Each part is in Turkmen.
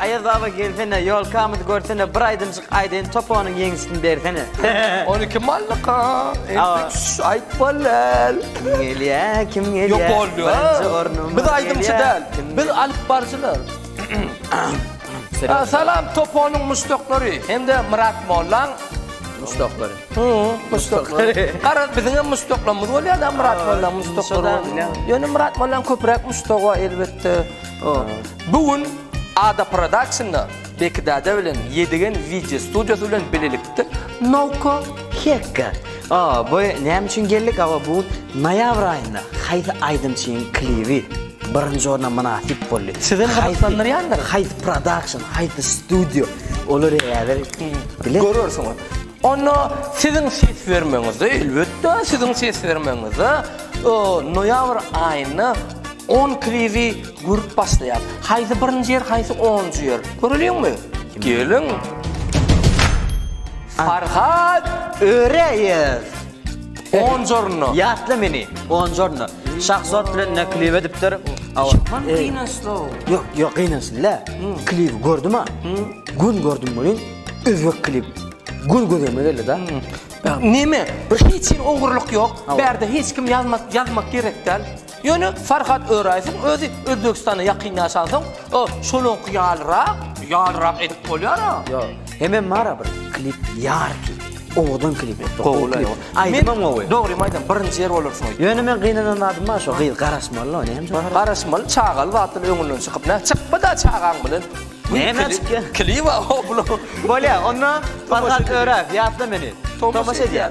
Aýaz baba gelsene ýolkamyzy görsene bir aýdymjyk aýdaýyn toponyň ýeňişini bersene. On iki mallyka. Aýt bolal. Kim gelýä kim gelýä. Ýok boldy. Birinji ornum. Biz aýdymçy däl. Biz alyp barjylar. Salam toponyň muşdaklary hem-de Myrat mollaň muşdaklary. Hoo muşdaklary. Garaz biziň hem muşdaklarymyz bolýar da Myrat mollaň muşdaklary. Ýöne Myrat mollaň köpräk muşdagy bar elbetde. Bu gün Ada Productionna Beki dada bilen Ýedigen wideo studiýasy bilen bilelikde Nowka Hekka. Aa bu näme üçin geldik? Awa bu noýabr aýynda haýsy aýdymçynyň klibi birinji orna mynasyp boldy? Sizi gyzyklandyrýandyr. Haýsy production, haýsy studio? Olary häzir bilen görersiňiz. Onda siziň ses bermeňizde, elbetde, siziň ses bermeňizde noýabr aýynda on klibi görüp başlaýar. Haýsy birinji ýer, haýsy onunjy ýer. Göreliňmi? Geliň. Farhat Öreýew. Buongiorno. Ýatla meni. Buongiorno. Şahzod bilen ne kliw edipdir? Awa. Şaman gynançly. Ýok, ýok gynançly dä. Kliw gördüm-a. Gün gördüm welin özbek kliw. Gün gözüme geldi da. Neme? Bir hiç hili ogurlyk ýok. Bärde hiç kim ýazmak, ýazmak gerek däl. Ýöne Farhat Öraýewiň özi Özbegistanda ýakyn ýaşansoň, o şonuňky ýalyrak, ýalyrak edip bolýar-a. Ýok. Hemem bar-a bir klip Ýarki. Owadan klip etdi. Gowy. Aýdymam gowy. Dogrymy aýdam, birinji ýer bolarsyň aýt. Ýöne men gynanan zadym bar, şo gyz garaşmaly-la, ony hem çagyr. Garaşmaly, çagaly zatdan öňünden çykyp, nä çykma-da çagaň bilen. Näme çykýa? Kliba, o bula. Bolýa, onda Farhat Öraýew, ýatla meni. Tomaşa edýär.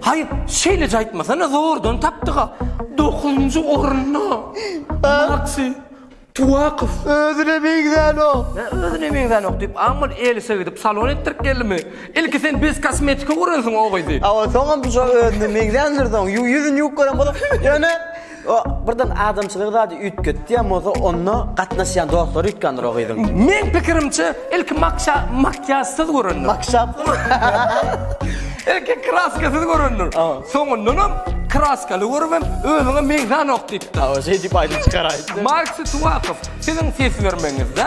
Haý, şeýleje aýtmasana, zordan tapdyga. Dokuzynjy orunda. Maksy Tuwakow. Özüne meňzänok. Nä özüne meňzänok diýip, Amal Elise gidip salon etdirip geldimi? Ilki sen bez kosmetika görensiň o gyzy. Awa, soňam bu şo özüne meňzändir soň. Ýüzüni ýuwup gören bolup, ýöne O birden adamçylygy zady üýtgetýän bolsa onda gatnaşýan dostlary üýtgändir o gyzyň. Meň pikirimçe ilki makşa makýažsyz görendir. Makşapsyz. Ilki kraskasyz görendir. A. Soňundanam kraskaly görüp hem özüňe meňzänok diýipdir. A o şeýdip aýdyp çykaraýypdyr. Mark Situakow siziň ses bermegiňizde.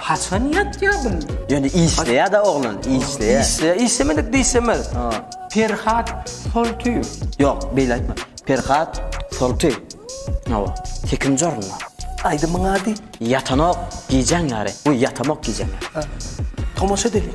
Haçan ýatýa bul? Ýöne işleýä-de oglan, işleýä. Işleýä, işlemedik diýsemez. Perhat Soltyýew. Ýok, beýle aýtma. Perhat Soltyýew. Hawa, sekinji orunda. Aýdymyň ady? Ýatanok gijäň ýary. Goý, ýatamok gijäň ýary. Tomaşa edeliň.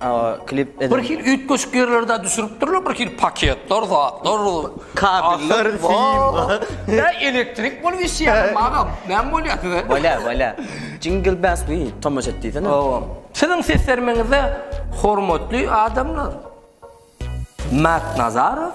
Bir hili üýtgeşik ýerlerde düşüripdirler, bir hili paketler, zatlar, kabeller, ýa elektrik bolup işýärmi agam, näme bolýar size? Bolýar, bolýar. Jingle bells diýip tomaşa et diýsene. Hawa. Siziň seslenmeňize hormatly adamlar. Mätnazarow.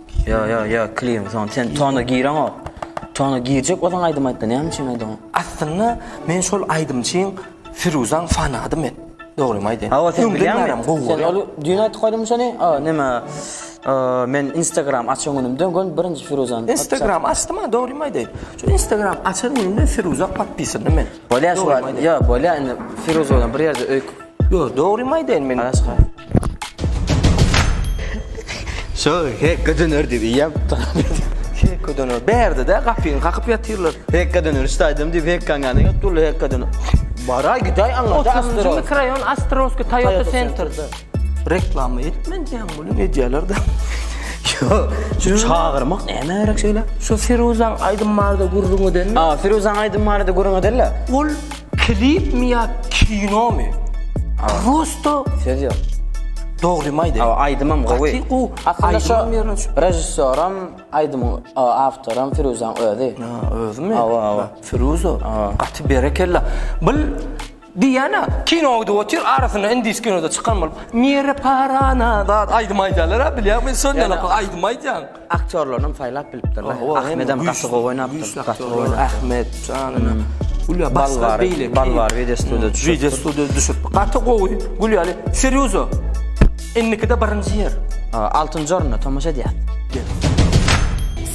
Ýa ýa ýa klim son sen tona gireňok. Tona girjek bolsaň aýdym aýtda näme üçin aýdyň? Aslynda men şol aýdymçyň Firuzaň fanady men. Dogrymy aýdaýyn. Awa sen bilýäňmi? Sen ol düýn aýdyp goýduň şony. A näme? Men Instagram açan günümden gön birinji Firuzany. Instagram açdym a dogrymy aýdaýyn. Şu Instagram açan günümden Firuza podpisany men. Bolýa şu wagt. Yo, bolýa indi Firuza bilen bir ýerde öýk. Yo, dogrymy aýdaýyn men aşka. Şo, he, gydyn ör diýip ýap. Hekka döner. Bärde-de gapyny kakyp ýatyrlar. Hekka döner, şu aýdym diýip hekka gany ýok durly hekka döner. Bara gidaý aňa da Astro. 30-njy mikroraýon Astrovskiý Toyota Center. Reklama etmen diýen bunu edýärler de. Şu çagyrmak näme gerek şeýle? Şu Firuzaň aýdym barda gürrüň edenmi? A, Firuzaň aýdym barda gürrüň edenle. Ol klip mi ýa kino mi? Prosto söz ýok. Dogry mi aýdýan? A, aýdymam gowy. Aslynda şu režissýoram, aýdym awtoram Firuzaň özi. Özümi? Awa, awa. Firuzo. Gaty berekella. Bil Diana kino idip otyr arasynda indis kinoda çykan bolup mere parana zat aýdym aýdýalara bilýän men sonýalaka aýdym aýdýan. Aktýorlarynam saýlap bilipdirler. Ahmedem gaty gowy oýnapdyr. Gaty gowy oýnapdyr. Ahmet janyna. Gülýa başga beýle. Bal bar wideo studio düşüpdir. Wideo studio düşüp. Gaty gowy. Gülýaly serýozo. Indikide birinji ýer. Altynjy orunda tomaşa edýäs.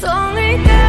Soňy däl.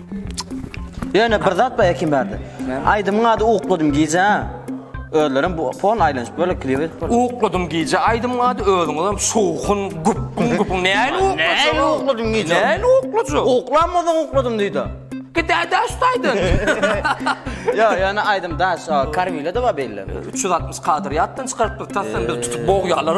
Ýöne bir zat bar ekin bärde. Aýdymyň ady Ukladym gije. Özlerim bu fon aýlanyp böyle klibi. Ukladym gije aýdymyň ady özüňiz hem şowhun gupgun gupgun. Näme ukladym? Näme ukladym gije? Näme ukladym? Uklamadan ukladym diýdi. Gide daş taýdan. Ýa, ýöne aýdym daş. Karwile de bar belli. 360 kadr ýatdan çykaryp bir tasdan bir tutup bogýalar.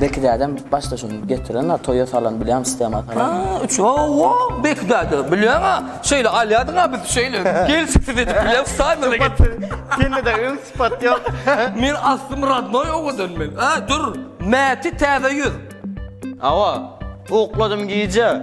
Bekidädem başda şuny getirenler, toýa salan bilýän sistema salan. Ha, üç owo, Bekidäde bilýän-a. Şeýle alýadyň-a biz şeýle. Gelşiksiz edip bilýän saýmana getir. Sende de öň sypat ýok. Men aslym radnoý owadan men. A, dur. Mäti täze ýüz. Hawa, ukladym gije.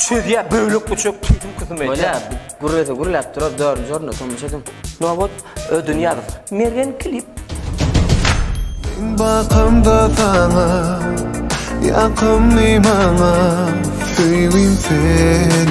Çözýär bölek uçak kysym kysym eýýär. Bolýar. Gürlese gürläp durar, dördünji orunda tomuş ediň. Nobot Ödünýazow. Mergen klip. Bakamda sana, ýakymly maňa, söýgim sen.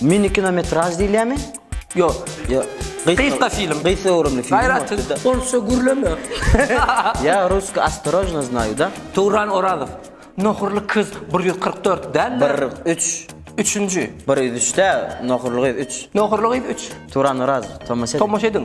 Mini kinometraž diýilýärmi? Ýok, ýok. Gysga film. Gysga görümli film. Gaýraty, orsça gürleme. Ýa russki ostorojno znaýu da. Towran Orazow. Nohurly kyz 144 däl. 103. Üçünji. 103 däl, nohurly gyz 3. Nohurly gyz 3. Towran Orazow, tomaşa ediň. Tomaşa ediň.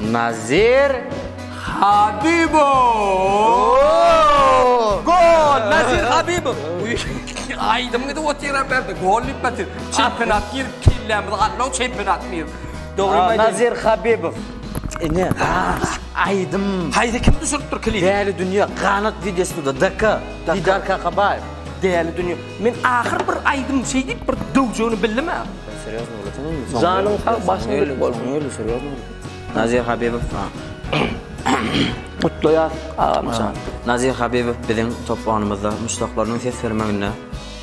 Nazir Habibow! Gol! Nazir Habibow! Uýy, aýdym gidip otyran bärde, gol diýip gaty. Çempionat girip kellämizi aldyň, çempionat diýip. Dogrymy aýdaýyn. Nazir Habibow. Ine, aýdym. Haýsy kim düşüripdir klibi? Däli dünýä, Ganat wideostudio, DK, Didar Kakabaýew. Däli dünýä. Men ahyr bir aýdym şeý diýip bir döwjegini bildim-ä. Janyň sag başyň dik bolsun. Nazir Habibow Gutlaýas agamjan. Nazir Habibow biziň top oýnumyzda muşdaklarynyň ses bermeginde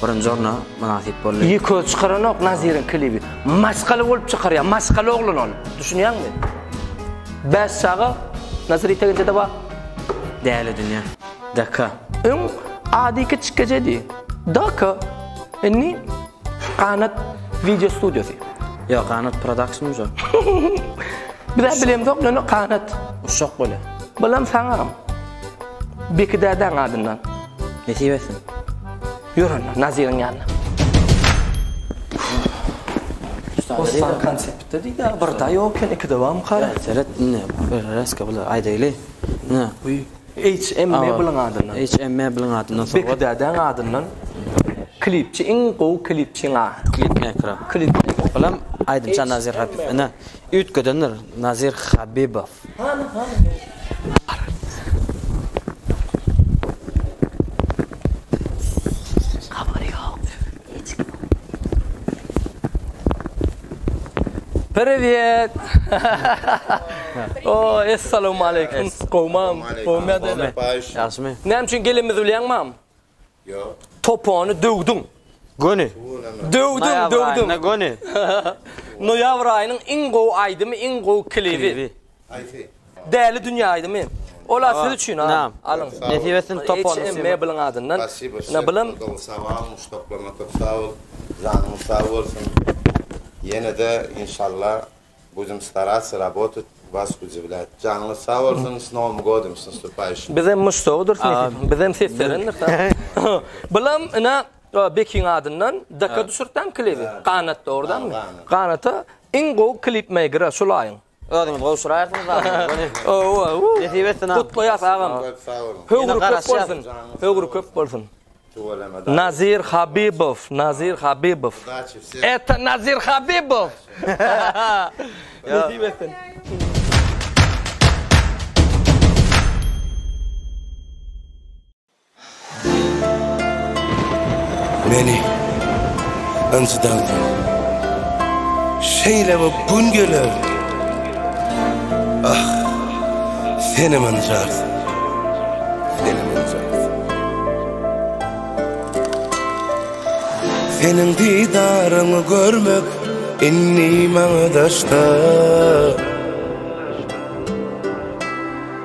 birinji orna mynasyp boldy. Ýeke çykaranok Nazirin klibi. Maşgala bolup çykarýa, maşgala oglan ol. Düşünýäňmi? Bäş çaga Nazir ýeteginçede bar. Däli dünýä. Daka. Öň ady kiçikejedi. Daka. Indi. Ganat video studiosy. Ýok ganat production ujo. Bizä bilemzok ýöne ganat. Uşak bolýa. Bulam saňam. Beki dädäň adyndan. Nesip etsin. Ýör onda Naziriň ýanyna. Bossan konseptde diýdi bir da ýok eken iki de bam kara. Seret indi reska bular aýdaýly. Ne? HM Mebeliň adyndan. HM Mebeliň adyndan sowgat. Bekdädäň adyndan klipçi iň gowy klipçiň a. Klipmekra. Klipmekra. Bulam aýdymçy Nazir Habibow. Ine, üýtgedendir Nazir Habibow. Hany hany. Privyet. O, assalamu alaykum. Gowmam. Gowmy ýa-da? Ýagşymy? Näme üçin gelenimizi bilýäňmi? Ýok. Topany döwdüň. Göni. Döwdüň, döwdüň. Noýabr aýyna göni. Noýabr aýynyň iň gowy aýdymy, iň gowy klibi. Aýsy. Däli dünýä aýdymy. Ola siz üçin ha. Alyň. Nesip etsin top on. Hem mebliň adyndan. Ne bilim. Sawal muştaklama top sawal. Janyň sag bolsun. Ýene de inşallah bujum starasy rabotat was güji bilen. Janyň sag bolsun. S nowym godym s nastupaýşy. Bizem muştagdyr. Bizem ses berendir. Bilim ina bekiň adyndan daka düşürtdäm klibi. Ganat dogrudanmy? Ganata iň gowy klip meýgera şulaýyň. Özüňiz gowşuraýarsyňyz agam. Owow. Nesip etsin agam. Gutlaýas agam. Höwri köp bolsun. Höwri köp bolsun. Nazir Habibow, Nazir Habibow. Eta Nazir Habibow. Nesip etsin. Meni ynjydansyň. Şeýle bir gün geler. Ah, senem ynjarsyň. Seniň didaryňy görmek indi maňa daşda.